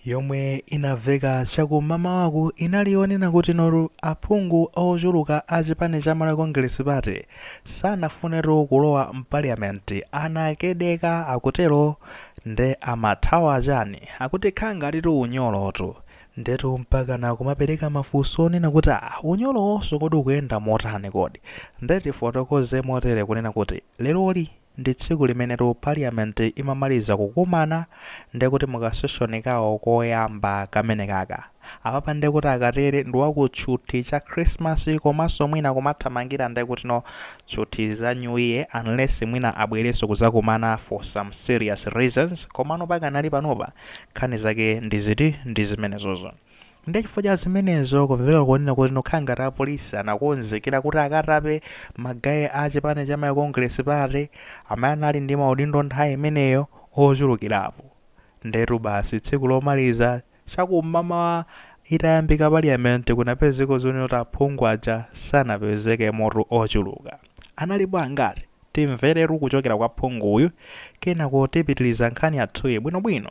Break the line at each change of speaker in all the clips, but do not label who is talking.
yomwe inaveka chakumamawaku inali yonena kuti no aphungu ochuluka a chipani cha Malawi Congress Party sanafunetu kulowa mpaliyamenti amatere akutero nde amathawa chani akuti kukhala ngatitu unyolotu ndetu mpakana kumapereka mafunso onena kuti aa unyolowonso kodi ukuyenda motani kodi nde tifotokoze motere kunena kuti leroli Ndi tsiku limenetu Parliament imamaliza kukumana nde kuti mu kasession kawo koyamba kamenekaka. Apapa nde kuti akatere ndi wa kutchuthi cha Christmas komanso mwina kumathamangira nde kuti no tchuthi za New Year unless mwina abwerenso kudzakumana for some serious reasons komano pakanali panopa nkhani zake ndi ziti ndi zimenezozo. Ndiye chifukwa cha zimenezo kumveka konena kuti no kukhala ngati apolisi anakonzekera kuti akatape magaye a chipani cha Malawi Congress Party amene anali ndi maudindo nthawi imeneyo ochulukirapo. Ndiyetu basi tsiku lomaliza cha kum'mamawa itayambika parliament kunapezeka zonena kuti aphungu aja sanapezekemotu ochuluka. Analipo angati? Timveretu kuchokera kwa phunguyu kenako tipitiriza nkhani yathuyi bwinobwino.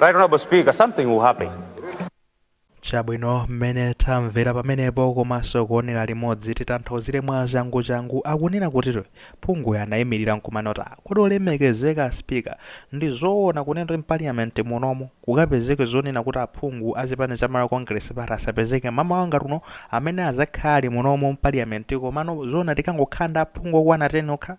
Right, Honorable Speaker, something will
happen. chabwino mmene tamvera pamenepo komanso kuonera limodzi titanthauzire mwa changuchangu akunena kuti phunguyu anayimirira nkumanena kuti kodi olemekezeka spika ndi zoona kunena kuti mpaliyamenti munomo kukapezeke zonena kuti aphungu a chipani cha malawi congress party asapezeke mmamawa ngati uno amene azakhala munomo mpaliyamenti komano zoona tikangokhala ndi aphungu okwana 10 okha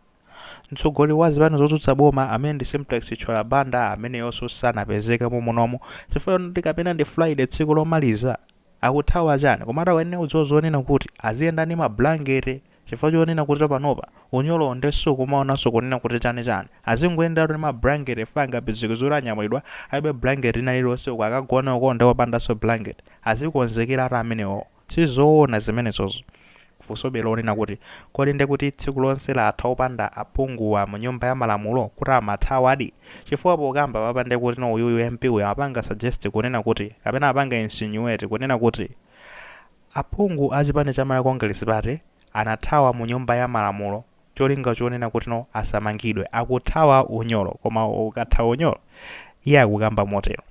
Mtsogoleri wa zipani zotsutsa boma amene ndi Simplex Chithyola Banda ameneyonso sanapezeke momunomo chifukwa chonena kuti kapena ndi Friday tsiku lomaliza? Akuthawa chani? Komatu akuyenera kudziwa zonena kuti aziyenda ndi ma blankete chifukwa chonena kuti panopa unyolowo nde sukumaonanso kunena kuti chani chani. Azingoyenderatu ndi ma blankete chifukwa angapezeke zoti anyamulidwa alibe blankete lina lililonse uko akagone uko nde opandanso blankete. Azikonzekeratu amenewowo. Si zoona zimenezozo. Funsobe lonena kuti, Kodi nde kuti tsiku lonse latha opanda aphunguwa mu nyumba ya malamulo? Kuti amathawadi? Chifukwa pokamba apapa nde kuti no uyuyu MP uyu amapanga suggest kunena kuti, kapena amapanga insinuate kunena kuti, aphungu a chipani cha Malawi Congress Party anathawa mu nyumba ya malamulo cholinga chonena kuti no asamangidwe. Akuthawa unyolo. Koma ukathawa unyolo? Iye akukamba motero.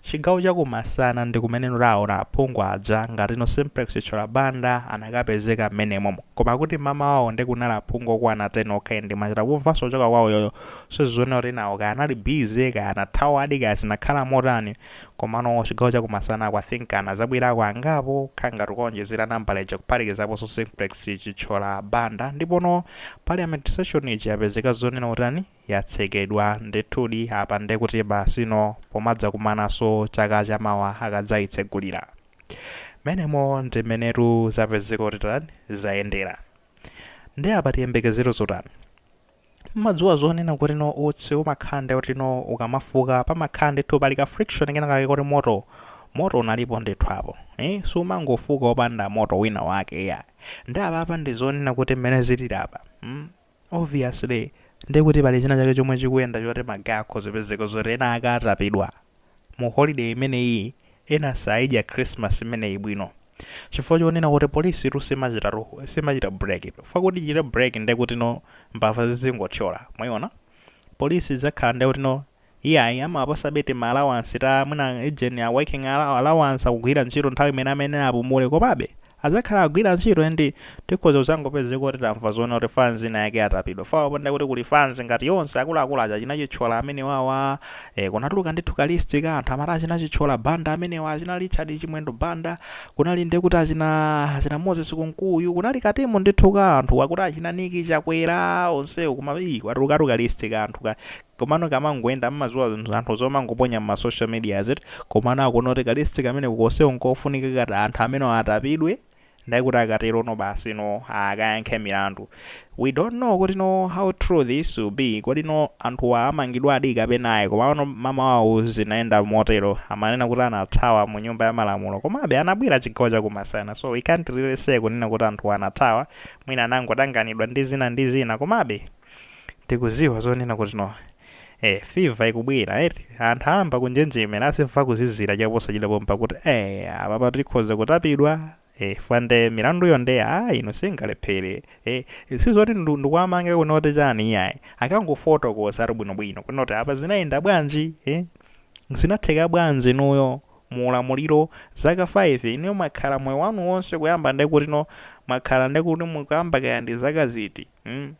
Chigawo chakumasana ndikumene taona aphungu aja ngatino Simplex Chithyola Banda anakapezeka mmenemo. Koma kuti mmamawawo nde kunali aphungu okwana 10 okha and mwachita kumvanso kuchoka kwa uyoyo sizoona kuti enawo kaya anali busy kaya anathawadi kaya zinakhala motani komano chigawo chakumasanaku I think anazabwerako angapo kukhala ngati kukaonjezera nambala ija kuphatikizaponso Simplex Chithyola Banda ndipono Parliament session ija yapezeka zonena kuti yatsekedwa ndithudi apa nde kuti basi no pomadzakumanaso chaka chamawa akadzaitsegulira mmenemo ndi mmenetu zapezeka kuti tani zayendera nde apa tiyembekezere zotani mmadziwa zonena kuti no utsi umakhala nde kuti no ukamafuka pamakhala ndithu pali ka friction kena kake koti moto moto unalipo ndithu apo ee siumangofuka opanda moto wina wake iya nde apapa ndizonena kuti mmene zilili apa mm Obviously ndekuti pali china chake chomwe chikuyenda choti ma guy akhoza kupezeka zoti ena akatapidwa mu holiday imeneyi ena saidya Christmas imeneyi bwino chifukwa chonena kuti police tu simachita simachita break chifukwa kuti ichite break ndekutino mbava zizingothyola mwayiona police idzakhala ndekutino Iyayi amawapasabe tima allowance ta mwina ujeni ta working allow allowance akugwira ntchito nthawi imene amayenera apumule komabe adzakhala akugwira ntchito and tikhoza kudzangopezeka kuti tamva zonena kuti fans ina yake yatapidwa fwa panda kuti kuli fans ngati yonse akuluakulu aja achina Chithyola amenewawa eh kunatuluka ndithu ka list ka anthu amati achina Chithyola Banda amenewa achina Richard Chimwendo Banda kunali ndiye kuti achina achina Moses Kunkuyu kunali ka timu ndithu ka anthu akuti achina Nick Chakwera onsewo koma ii kwatulukatu ka list ka anthu ka Komano nkamangoyenda mmaziwa anthu zomangoponya mma social medias eti komano akuona kuti ka list kameneko konseko nkofunika kuti anthu amenewo atapidwe ndiye kuti akaterono basino akayankhe milandu we don't know kutino how true this will be kodino anthuwa amangidwadi kapena ayi komano mamawawu zinayenda motero amanena kuti anathawa mu nyumba ya malamulo komabe anabwera chigawo cha kumasana so we can't really say kunena kuti anthuwa anathawa mwina anangotanganidwa ndi zina ndi zina komabe tikuziwa zonena kuti no eh fever ikubwera eti anthu ayamba kunjenjemera akumva kuzizira chaposachita pompa kuti eh apapa tikhoza kutapidwa eh fwa nde milanduyo nde ah ino singalephere eh sizoti ndu- ndikuwamange kuno kuti chani iyayi akangofotokoza ati bwinobwino kuno kuti apa zinayenda bwanji eh zinatheka bwanji inuyo mu ulamuliro zaka 5 inuyo mwakhala moyo wanu wonse kuyamba ndekuti no mwakhala ndekuti mukuyamba kaya ndi zaka ziti mm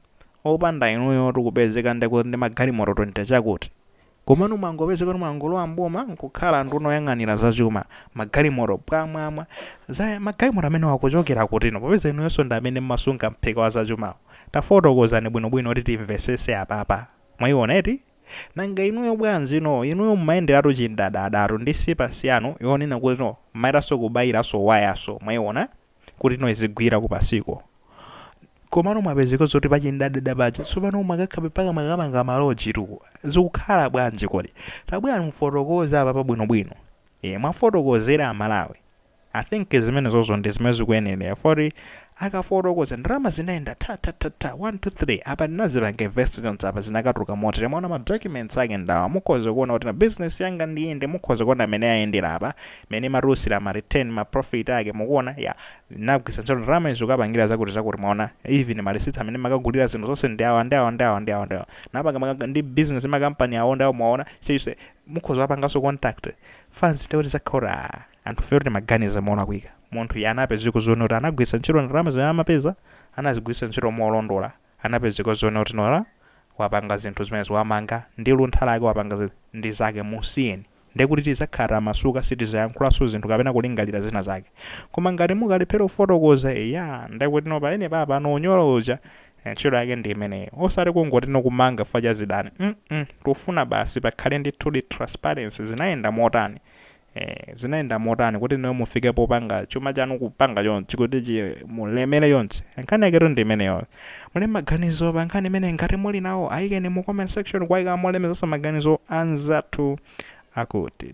opanda inuyotu kupezeka ndekuti ndi magalimoto 20 chakuti komano mwangopezeka kuti mwangolowa m'boma nkukhala nduna oyang'anira za chuma magalimoto pwamwamwa aa magalimoto amenewo akuchokera kutino popeza inuyonso ndi amene mmasunga mphika wa zachumawo tafotokozani bwinobwino kuti timvesese apapa mwaiona eti nanga inuyo bwanji no inuyo mmayenderatu chindadadatu ndi sipas yanu yonena kuti no mmaitanso kubairanso wayanso mwaiona kuti no izigwira kupasiko komano mwapezeka kuti pachindadada paja tsopano mwakakha mpaka mwakamanga maloji tu zikukhala bwanji kodi tabwera mufotokoze apa pabwinobwino e, muwafotokozere amalawi i think zimenezozo ndi zimene zikuyenera kuti akafotokoza ndalama zinayenda tathathatha 1 2 3 apa ndinazipanga invest zonse apa zinakatuluka motere mwaona ma documents ake ndawa mukhoza kuona kuti na business yanga ndi iyi mukhoza kuona mmene ayendera apa mmene imatulutsira ma return ma profit ake mukuona ya Ndinagwiritsa ntchito ndalama izi kukapangira zakuti zakuti mwaona even ma receipts amene ndimakagulira zinthu zonse ndi awa ndi awa ndi awa ndi awa ndi awa. Ndinapanga ma business ndi ma company awo ndi awo mwaona chilichonse mukhoza kuwapanganso contact. Fine ndiye kuti zizakhala kuti aah anthufe timaganiza molakwika. Munthu iye anapezeka zoona kuti anagwiritsa ntchito ndalama zimene amapeza anazigwiritsa ntchito molondola. anapezeka zoona kuti no awa wapanga zinthu zimenezi wamanga ndi luntha lake wapanga ndi zake musiyeni ndekuti tizakhala tamasuka sitizayankhulaso zinthu kapena kulingalira zina zake koma ngati mukalephera kufotokoza eyaa ndekuti no pamenepapa no unyolo uja ntchito yake ndi imeneyo osati kungoti no kumanga chifukwa cha zidani mm tufuna basi pakhale ndithudi transparency zinayenda motani Eeh zinayenda motani kuti inuyo mufike popanga chuma chanu kupanga chonchi kuti mulemele chonchi nkhani yaketu ndi imeneyoyo mulembe maganizo pa nkhani imeneyi ngati muli nawo ayikeni mu comment section kuwayika molemekezaso maganizo anzathu akuti.